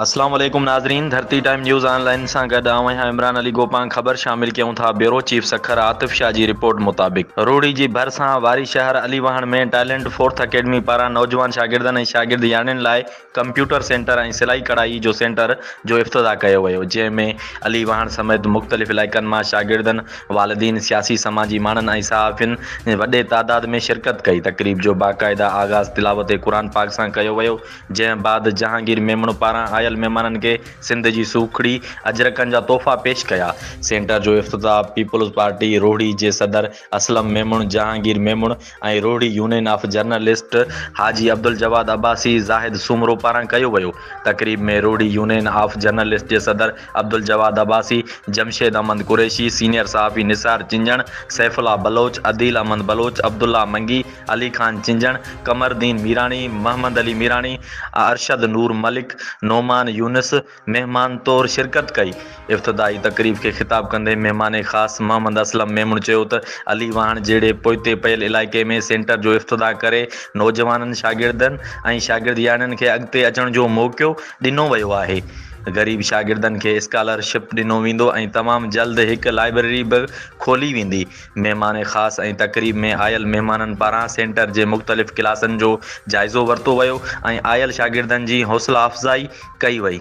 السلام عليڪم ناظرين Dharti time news online سان گڏ آئون آهيان عمران علي گوپانگ خبر شامل ڪيون ٿا بيورو چيف سکر عاطف شاهه جي رپورٽ مطابق روهڙي جي ڀرسان واري شهر علي واهڻ ۾ ٽائلنٽ فورٿ اڪيڊمي پاران نوجوان شاگردن ۽ شاگرد ياڻين لاء ڪمپيوٽر سينٽر ۽ سلائي ڪڙهائي جو سينٽر جو افتتاح ڪيو ويو جنهن ۾ علي واهڻ سميت مختلف علائقن مان شاگردن، والدين، سياسي سماجي ماڻهن ۽ صحافين وڏي تعداد ۾ شرڪت ڪئي، تقريب جو باقاعده آغاز تلاوت قرآن پاڪ سان ڪيو ويو جنهن بعد جهانگير ميمڻ پاران آيل مهمانن کي سنڌ جي سوکڙي اجرڪن جا تحفا پيش ڪيا، سينٽر جو افتتاح پيپلز پارٽي روهڙي جي صدر Aslam Memon, Jahangir Memon. ۽ Rohri union of journalist Haji Abdul Jawad Abbasi Zahid Soomro پاران ڪيو ويو. تقريب ۾ روهڙي يونين آف جرنلسٽ جي صدر عبدالجواد عباسي، جمشيد احمد قريشي، سينيئر صحافي نثار چنجڻ، سيف الله بلوچ، عديل احمد بلوچ، عبدالله منگي، علي خان چنجڻ، قمردين ميراڻي، محمد علي ميراڻي، ارشد نور ملڪ، نعمان يونس، مهمان طور شرڪت ڪئي. افتتاحي تقريب کي خطاب ڪندي مهمان خاص محمد اسلم ميمڻ چيو ته علي واهڻ جهڙي پوئتي پيل علائقي ۾ سينٽر جو افتتاح ڪري نوجوانن شاگردن ۽ شاگردياڻين کي اڳتي اچڻ جو موقعو ڏنو ويو آهي غريب شاگردن کي اسڪالر شپ ڏنو ويندو ۽ تمام جلد هڪ لائبريري به کولي ويندي مهمان خاص ۽ تقريب ۾ آيل مهمانن پاران سينٽر جي مختلف ڪلاسن جو جائزو ورتو ويو ۽ آيل شاگردن جي حوصلا افزائي ڪئي وئي.